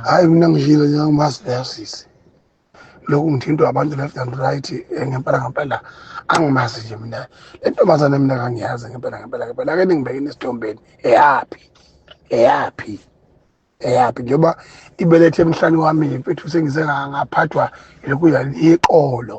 hayi mina ngishilo njengomazi leyo sisi lokhu ngithintwa abantu left and right eh, ngempela ngempela angimazi nje mina le ntombazane mina kangiyazi ngempela ngempela ngempela ake ningibekeni esithombeni eyaphi eyaphi eyaphi njengoba ibelethe emhlani wami mfethu sengize ngaphathwa yilokhu yaliqolo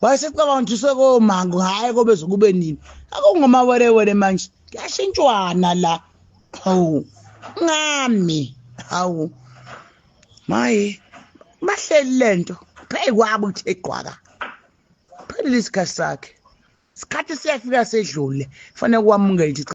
wayesecabanga ukuthi usekomango hhayi kobe zokube nini akungomawerewere manje kuyashintshwana la hawu ngami hawu maye bahleli le nto pheyi kwabo ukuthi egqwaka phelile isikhathi sakhe isikhathi siyafika sedlule fanele kwamukele